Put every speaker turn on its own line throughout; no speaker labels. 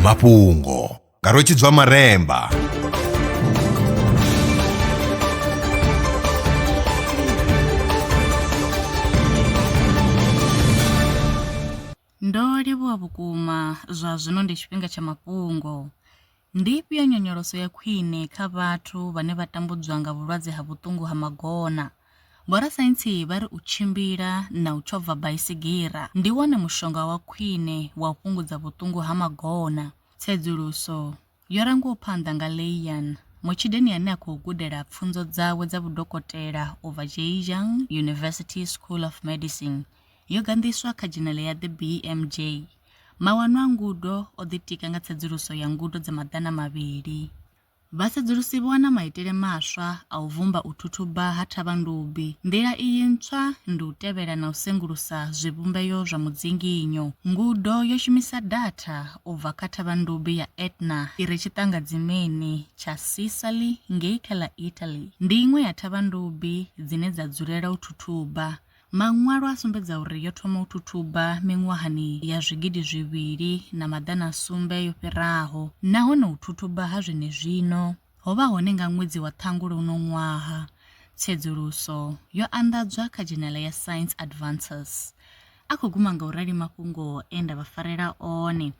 mafhungo nga rwetshidzwa maremba
Ndo livhuwa vhukuma zwa zwino ndi tshifhinga tsha mafhungo. Ndi ifhio nyonyoloso ya khwine kha vhathu vhane vha tambudzwa nga vhulwadze ha vhuṱungu ha magona? Vhorasaintsi vha ri u tshimbila na u tshova baisigira ndi wone mushonga wa khwine wa u fhungudza vhuṱungu ha magona. Tsedzuluso yo rangiwaho phanḓa nga Leian, mutshideni ane a khou gudela pfunzo dzawe dza vhudokotela u bva Zhejiang University School of Medicine, yo ganḓiswa kha dzhenele ya The BMJ. Mawanwa a ngudo o ḓitika nga tsedzuluso ya ngudo dza maḓana mavhili. Vhasedzulusi vho wana maitele maswa a u vumba u thuthuba ha thavhandubi. Nḓila iyi ntswa ndi u tevhela na u sengulusa zwivhumbeo zwa mudzinginyo. Ngudo yo shumisa datha u bva kha thavhandubi ya Etna i re tshiṱangadzimeni tsha Sicily ngei kha ḽa Italy. Ndi iṅwe ya thavhandubi dzine dza dzulela u thuthuba. Maṅwalo a sumbedza uri yo thoma u thuthuba miṅwahani ya zwigidi zwivhili na maḓana a sumbe yo fhiraho nahone u thuthuba ha zwenezwino ho vha hone nga ṅwedzi wa Ṱhangule uno ṅwaha. Tsedzuluso yo anḓadzwa kha dzhenele ya Science Advances. A khou guma nga u rali mafhungo e nda vha farela one.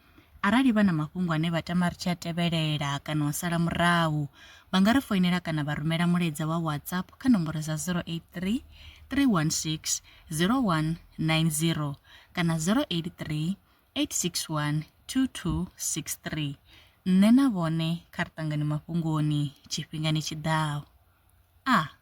Arali vha na mafhungo ane vha tama ri tshi a tevhelela kana u sala murahu, vha nga ri foinela kana vha rumela mulaedza wa WhatsApp kha nomboro dza 083 316 0190 kana 083 8612263. Nṋe na vhone kha ri ṱangane mafhungoni tshifhingani tshi ḓaho. A.